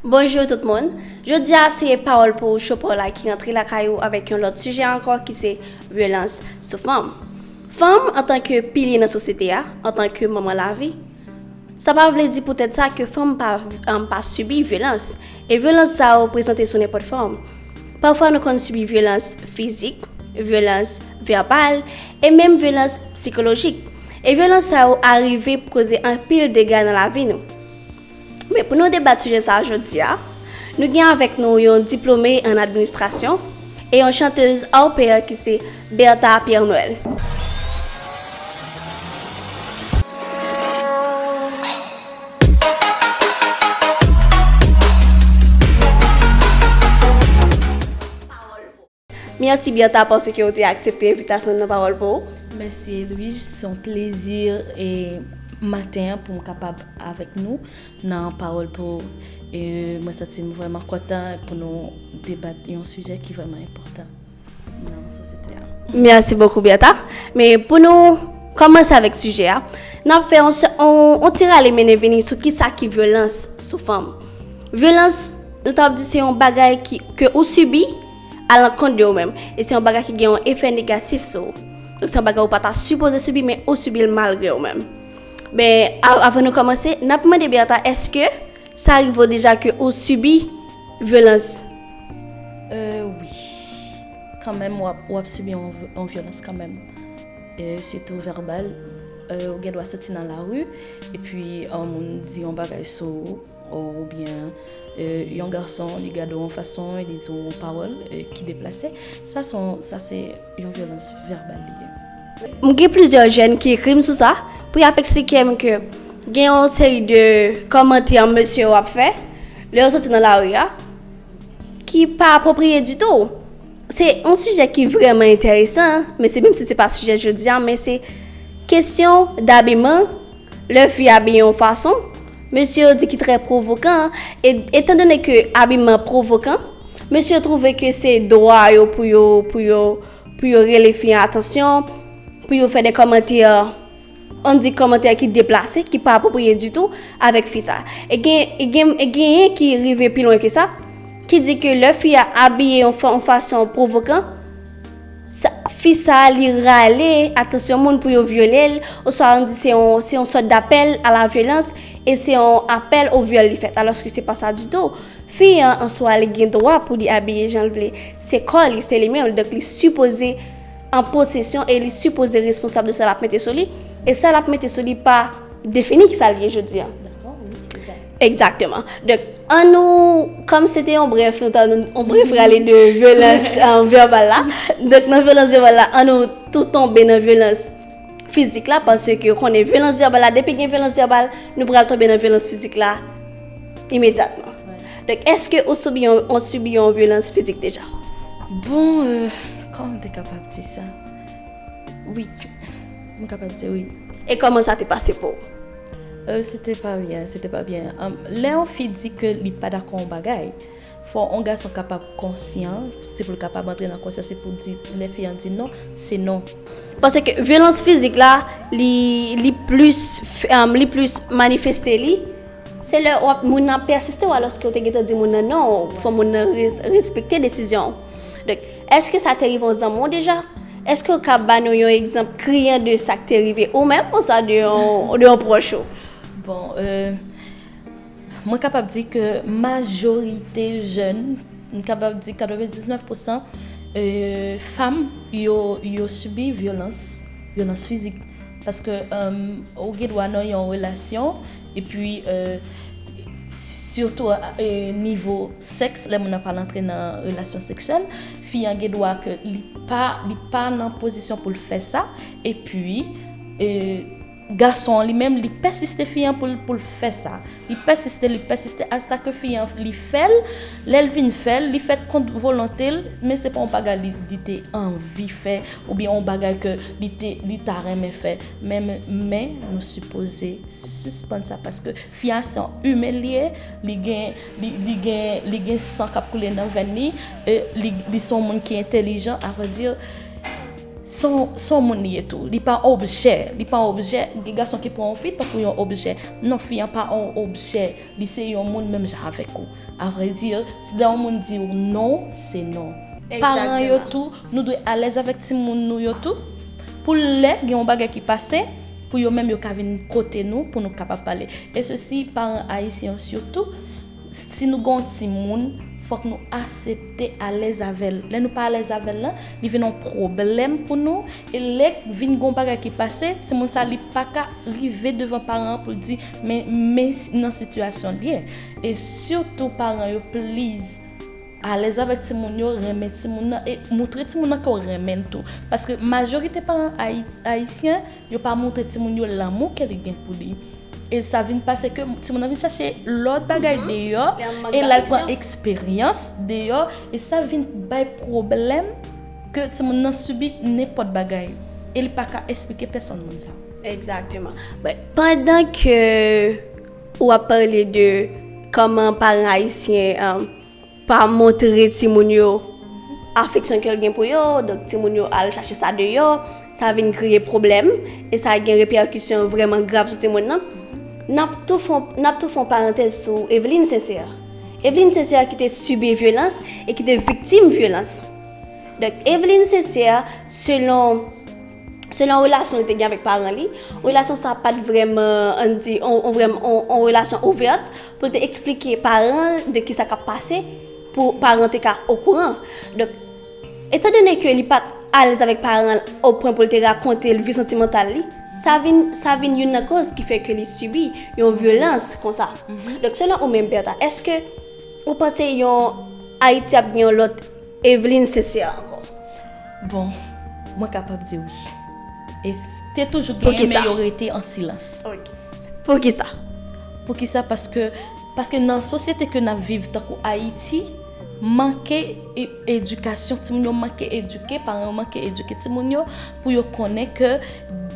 Bonjou tout moun! Jodi a se Pawòl pou ou Show Paw la ki rantre lakay ou avèk yon lòt sijè ankò ki se vyolans sou fanm. Fanm antan ke pilye nan sosyete a, antan ke manman lavi, sa pa vle di poutèt sa ke fanm pa pa sibi vyolans. E vyolans sa yo prezante sou nenpòt fòm. Pafwa nou konn sibi vyolans fizik, vyolans vèbal e menm vyolans psikolojik. E vyolans sa yo arive pou koze anpil dega nan lavi nou. Men pou nou debat sijè sa a jodi a, nou gen avèk nou yon diplome an administrasyon e yon chantez hors pair ki se Bertha Pierre Noël. Merçi Bertha parce que ou te aksepte envitasyon nan Pawòl pou ou. Mèsi Edwige, se yon plezi maten an pou m kapab avèk nou nan Pawòl pou ou. E mwen santi m vrèman kontan pou nou debat yon sijè ki vrèman enpòtan nan sosyete a. Mèsi bokou Bertha. Men pou nou kòmanse avèk sijè a, n ap fè yon ti rale mennen vini sou kisa ki vyolans sou fanm. Vyolans. Nou ta di se yon bagay ki, ke ou sibi, a lankont de ou menm. E se yon bagay ki gen yon efè negatif sou ou. Donk se yon bagay ou pa ta sipoze sibi, men ou sibi l malgre ou menm. Men, avan nou kòmanse, n ap mande Bertha, èske sa rive ou deja ke ou sibi vyolans? Euh wi. Kanmenm w ap, w ap sibi yon vyolans kanmenm. E sitou vèbal. Ou gen dwa soti nan lari, epi yon moun di yon bagay sou ou. Ou byen yon gason li gade w yon fason e li di w yon pawòl ki deplase, sa se yon vyolans vèbal li ye. M gen plizyè jèn ki ekri m sou sa pou y ap eksplike m ke gen yon seri de kòmantè mesye yo ap fè lè yo soti nan lari a ki pa apwopriye ditou. Se yon sijè ki vrèman enteresan, men se menm si se pa sijè jodi a men se kesyon dabiman. Lè fi a abiye yon fason, mesye yo di ki trè pwovokan, e etandone ke abiman pwovokan, mesye yo twouve ke se dwa yo pou yo, pou yo, pou yo rele fi an atansyon, pou yo fè de kòmantè, an di kòmantè ki deplase, ki pa apwopriye ditou avèk fi sa. E gen, e gen, e genyen ki rive pi lwen ke sa, ki di ke lè fi a abiye yon fason pwovokan, Sa fi sa li rale atansyon moun pou yo vyole l, oswa an di se yon se yon sòt dapèl a la vyolans e se yon apèl o vyòl li fèt alòske se pa sa ditou. Fi an an swa li gen dwa pou li abiye jan l vle, se kò li, se li menm l donk li sipoze an posesyon e li sipoze responsab de sa l ap mete sou li e sa l ap mete sou li pa defini ki sa l ye jodi an. Dakò wi se sa. Egzakteman. Donk. An nou, kòm se te yon brèf, nou ta nou yon brèf rale de vyolans vèbal la. Donk nan vyolans vèbal la, an nou tou tonbe nan vyolans fizik la, paske konnen vyolans vèbal la, depi gen vyolans vèbal, nou pral tonbe nan vyolans fizik la imedyatman. Donk èske ou sibi yon, ou sibi yon vyolans fizik deja? Bon, kòman m te kapab di sa? Wi, m kapab di wi. E kòman sa te pase pou ou? Euh, se te pa byen, se te pa byen. Lè yon fi di ke li pa dakò yon bagay, fò yon gason kapab konsyan, se pou l kapab antre nan konsyans e pou l di, lè fi an di non, se non. Paske vyolans fizik la, li, li plis, li plis manifeste li, se lè w ap, moun nan ap pèsiste w alòske ou te gentan di moun nan non, fò moun nan respekte desizyon ou. Donk. Èske sa te rive yon zanmi w deja? Èske w kab ba nou yon egzanp kriyan de sa k te rive ou menm oswa de yon pwòch ou? Bon, mwen kapab di ke majorite jèn, m kapab di 99 pousan fanm yo sibi vyolans, vyolans fizik. Paske ou gen dwa nan yon relasyon. Epi sitou nivo sèks lè moun nan pral antre nan relasyon seksyèl, fi an gen dwa ke li pa nan pozisyon pou l fè sa, epi gason an li menm li pèsiste fi an pou l fè sa, li pèsiste, li pèsiste asta ke fi an li fè l, lè l vin fè l, li fè l kont volonte l, men se pa yon bagay li te anvi fè oubyen yon bagay ke li ta renmen fè, men nou sipoze. Suspann sa paske fi a se yon humain li ye li gen li gen li gen san kap koule nan venn li e li se yon moun ki entelijan a vrai dire se yon moun li ye tou li pa objè li pa objè gen gason ki pran yon fi tankou yon objè non fi an pa yon objè li se yon moun menm jan avèk ou a vrai dire si lè yon moun diw non se non paran yo tou nou dwe alèz avèk timoun nou yo tou pou lè gen yon bagay ki pase. Pou yo menm yo ka vin kote nou pou nou kapab pale. E sesi paran ayisyen yo sitou, si nou gen yon timoun, fòk nou asepte alèz avè l. Lè nou pa alèz avè l lan, li vin yon pwoblèm pou nou. E lè vin gen yon bagay ki pase, timoun sa li pa ka rive devan paran an pou l di men nan sitiyasyon l ye. E sitou paran yo pliz. Alèz avèk timoun yo, renmen timoun nan e moutre timoun nan ke w renmen l tou. Paske majorite paran ayisyen, yo pa moutre timoun yo lanmou ke li gen pou li. E sa vin pase ke timoun nan vin chache lòt bagay deyò e l al pran eksperyans deyò e sa vin bay pwoblèm ke timoun nan sibi nenpòt bagay e li pa ka esplike pèsonn moun sa. Egzakteman. Pandan ke. Ou ap pale de kòman paran ayisyen pa montre timoun yo afeksyon ke l gen pou yo, donk timoun yo al chache sa deyò, sa vin kreye pwoblèm, e sa gen repèkisyon vrèman grav sou timoun nan. N ap tou fè yon parantèz sou Evelyne Sincère. Evelyne Sincère ki te sibi vyolans e ki te viktim vyolans. Donk Evelyne Sincère selon. Selon relasyon li te gen avèk paran li, relasyon sa pat vreman, an n di, on vreman, on relasyon ouvèt pou l te eksplike paran de ki sa k ap pase pou paran te ka okouran. Donk, etan done ke li pat alèz avèk paran o pwen pou l te rakonte l vi santimantal li, sa vin, sa vin youn nan koz ki fè ke li sibi yon vyolans konsa. Donk, selon ou menm Bertha, eske ou panse yon Ayiti ap gen yon lòt Eveline Sincère ankò? Bon, mwen kapab di wi. E te toujou genyen men yo rete an silans. Poukisa? Poukisa paske, paske nan sosyete ke nap viv tankou Ayiti, manke edikasyon, timoun yo manke edike, paran yo manke edike timoun yo pou yo konnen ke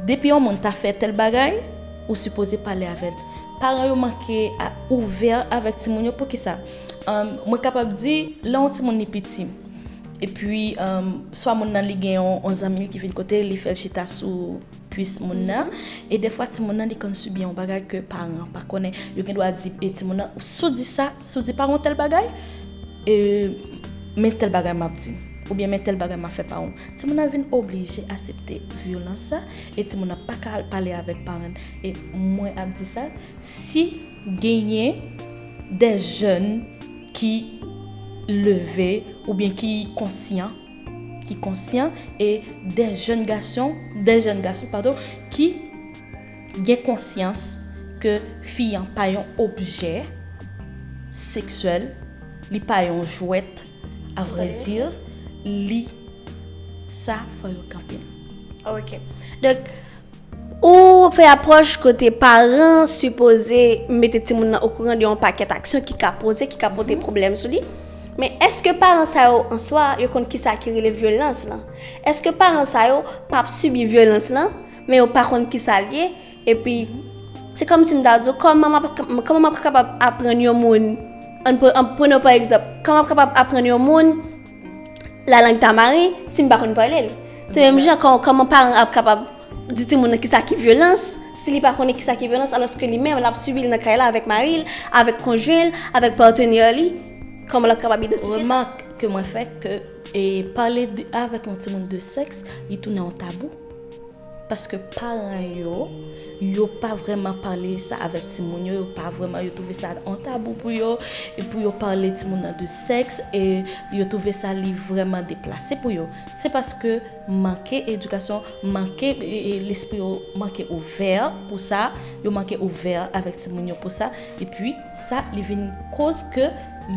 depi yon moun ta fè tèl bagay, ou sipoze pale avèl. Paran yo manke ouvè avèk timoun yo, poukisa? Mwen kapab di, lè yon timoun li piti. Epi swa moun nan li gen yon zanmi l ki vin kote l, li fè l chita sou kuis moun nan. E defwa timoun nan li konn sibi yon bagay ke paran an pa konnen. Yo gen dwa di timoun nan, si w di sa, si w di paran w tèl bagay, men tèl bagay m ap di. Oubyen men tèl bagay m ap fè paran w. Timoun nan vin oblije asepte vyolans sa e timoun nan pa ka al pale avèk paran l. E mwen ap di sa, si. Genyen de jèn ki leve oubyen ki konsyan, ki konsyan e de jèn gason, de jèn gason padon ki gen konsyans ke fi an pa yon objè seksyèl, li pa yon jwèt a vrè di, li sa fò yo kanpe l. Ok. Donk. Ou fè apwòch kote paran an sipoze mete timoun nan okouran de yon pakèt aksyon ki ka poze, ki ka pote pwoblèm sou li. Men, èske paran sa yo an swa, yo konn ki sa ki rele vyolans lan? Èske paran sa yo pa ap sibi vyolans lan, men yo pa konn ki sa l ye? Epi, se kòm si m ta di w, kòman m ap, kòman m ap kapab aprann yon moun, ann pran, pran yon pa egzanp, kòman m ap kapab aprann yon moun, La langue ta mare, si m pa konn pale l. Se menm jan kòman paran ap kapab di timoun nan kisa ki vyolans, si li pa konnen kisa ki vyolans alòske li menm l ap sibi l nan kay la avèk mari l, avèk konjwen l, avèk patenè li, kòman l ap kapab idantifye sa? Remak ke mwen fè ke pale avèk yon timoun de sèks li tounen yon tabou. Paske paran yo, yo pa vreman pale sa avèk timoun yo, yo pa vreman, yo twouve sa on tabou pou yo, e pou yo pale timoun nan de sèks, e yo twouve sa li vreman deplase pou yo. Se paske manke edikasyon, manke lespri yo manke ouvè pou sa, yo manke ouvè avèk timoun yo pou sa, e pi. Sa li vin koz ke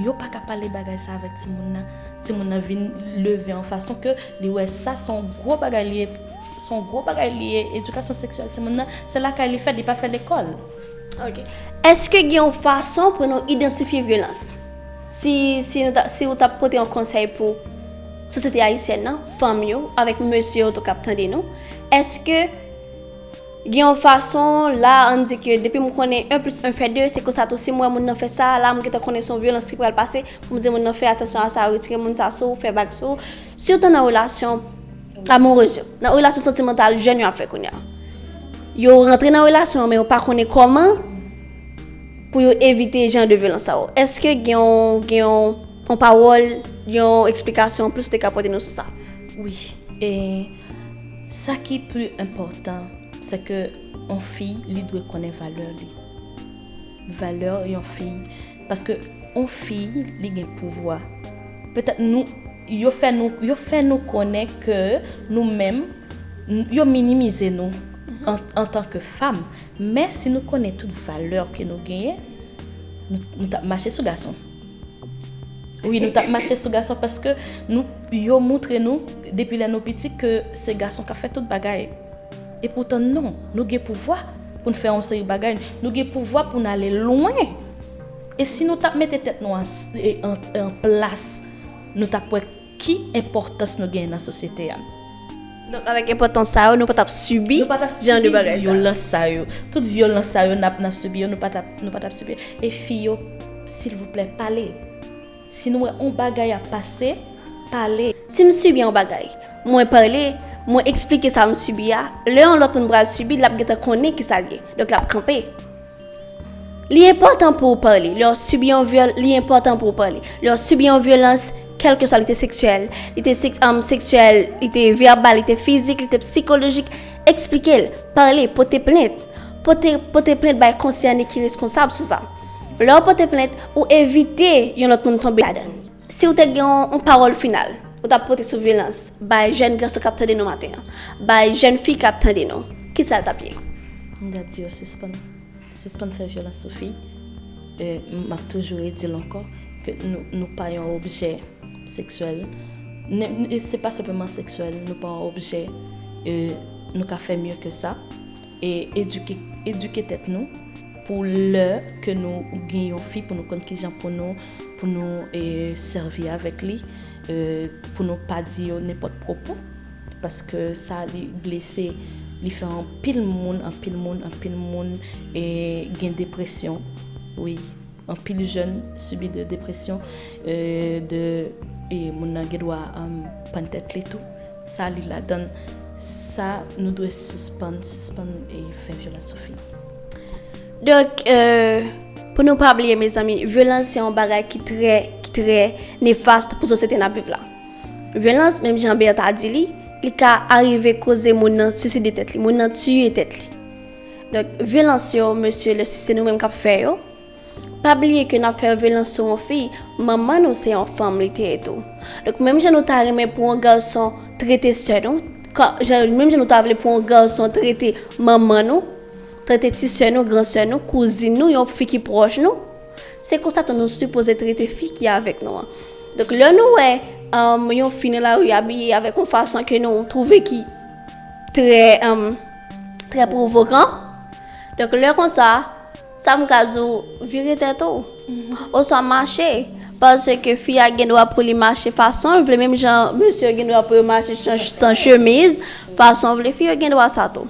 yo pa ka pale bagay sa avèk timoun nan. Timoun nan vin leve an fason ke li wè sa se yon gwo bagay li ye, se yon gwo bagay li ye, edikasyon seksyèl timoun nan, se lakay li fèt, li pa fè lekòl. Ok. Eske gen yon fason pou nou idantifye vyolans? Si, si nou ta, si ou ta pote yon konsèy pou sosyete ayisyèn nan, fanm yo, avèk mesye yo tou kap tande nou, eske. Gen yon fason, la a, ann di ke depi m konnen 1 plis 1 fè 2, se konsa tou si m wè moun nan fè sa, la a m gentan konnen se yon vyolans ki pral pase, pou m di moun nan fè atansyon a sa, retire moun sa sou ou, fè bag sou ou. Sitou nan relasyon amourez yo, nan relasyon santimantal jèn yo ap fè kounye a. Yo rantre nan relasyon an men yo pa konnen kòman pou yo evite jan de vyolans sa yo. Èske gen yon, gen yon, yon pawòl, yon eksplikasyon anplis ou te ka pote nou sou sa? Wi. E. Sa ki pli enpòtan se ke yon fi li dwe konnen valè li. Valè yon fi paske yon fi li gen pouvwa. Petèt nou yo fè nou yo fè nou konnen ke nou menm yo minimize nou antan ke fam men si nou konnen tout valè ke nou genyen nou tap mache sou gason. Wi nou tap mache sou gason paske yo moutre nou depi lè nou piti ke se gason kap fè tout bagay. E poutan non, nou gen pouvwa pou n fè yon seri bagay, nou gen pouvwa pou n ale lwen. E si nou tap mete tèt nou an plas, nou tap wè Ki enpòtans nou genyen nan sosyete a? Donk avèk enpòtans sa yo, nou pa t ap sibi jan de bagay sa yo. Nou pa t ap sibi vyolans sa yo. Tout vyolans sa yo n ap sibi yo, nou pa t ap sibi yo. E fi yo, silvouplè, pale. Si nou wè yon bagay ap pase, pale. Si m sibi yon bagay, mwen pale, mwen eksplike sa m sibi a, lè yon lòt moun pral sibi l, l ap gentan konnen ki sa l ye. Donk l ap kanpe. Li enpòtan pou w pale. Lè w sibi yon vyòl, li enpòtan pou w pale. Lè w sibi yon vyolans, kèlkeswa li te seksyèl, li te seksyèl, li te vèbal, li te fizik, li te psikolojik, eksplike l. Pale, pote plent. Pote, pote plent bay konsène ki responsab sou sa. Lè w pote plent, ou evite yon lòt moun tonbe ladan l. Si ou te gen yon pawòl final ou ta pote sou vyolans bay jèn gason kap tande nou maten an, bay jèn fi kap tande nou, kisa l tap ye? M ta di yo sispann, sispann fè vyolans sou fi. Map toujou redi l ankò ke nou pa yon objè seksyèl. Se pa senpleman seksyèl, nou pa yon objè, nou ka fè mye ke sa. E eduke eduke tèt nou pou lè ke nou gen yon fi pou nou konn kijan pou nou pou nou e sèvi avèk li e pou nou pa di yo nenpòt pwopo paske sa li blese li fè anpil moun anpil moun anpil moun e gen depresyon wi anpil jèn sibi de depresyon e de e moun nan gen dwa pann tèt li tou. Sa li ladann sa nou dwe sispann sispann fè vyolans sou fi. Donk pou nou pa bliye mezanmi vyolans se yon bagay ki trè ki trè nefast pou sosyete nap viv la. Vyolans menm jan Berthe a di li, li ka arive koze moun nan siside tèt li, moun nan tiye tèt li. Donk vyolans yo mesye lè si se nou menm kap fè yo. Pa bliye ke nap fè vyolans sou yon fi, manman nou se yon fanm li te ye tou. Donk menm jan nou ta renmen pou yon gason trete sè nou, menm jan nou ta vle pou yon gason trete manman nou, trete ti sè nou, gran sè nou, kouzin nou, yon fi ki pwòch nou, se konsa tou nou sipoze trete fi ki avèk nou an. Donk lè nou wè yon fi nan lari abiye avèk yon fason ke nou twouve ki trè trè pwovokan, donk lè konsa. Sa m ka di w, vire tèt ou. Oswa mache. Paske fi a gen dwa pou li mache fason l vle menm jan mesye yo gen dwa pou yo mache san chemiz, fason yo vle. Fi yo gen dwa sa tou.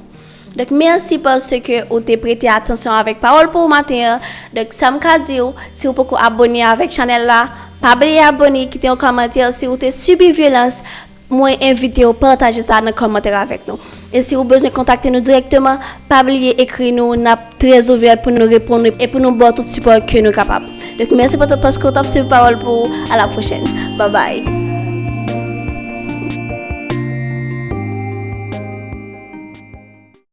Donk mèsi paske ou te prete atansyon avèk pawòl pou ou maten an. Donk sa m ka di w, si ou poko abone avèk chanèl la, pa bliye abone, kite yon kòmantè si ou te sibi vyolans. Mwen envite w pataje sa nan kòmantè avèk nou. E si ou bezwen kontakte nou dirèkteman, pa bliye ekri nou, n ap trè ouvè pou nou reponn ou e pou nou ba w tout sipò ke nou kapab. Donk mèsi pou tout paske ou t ap swiv Pawòl pou ou, a la pwochèn. Babay!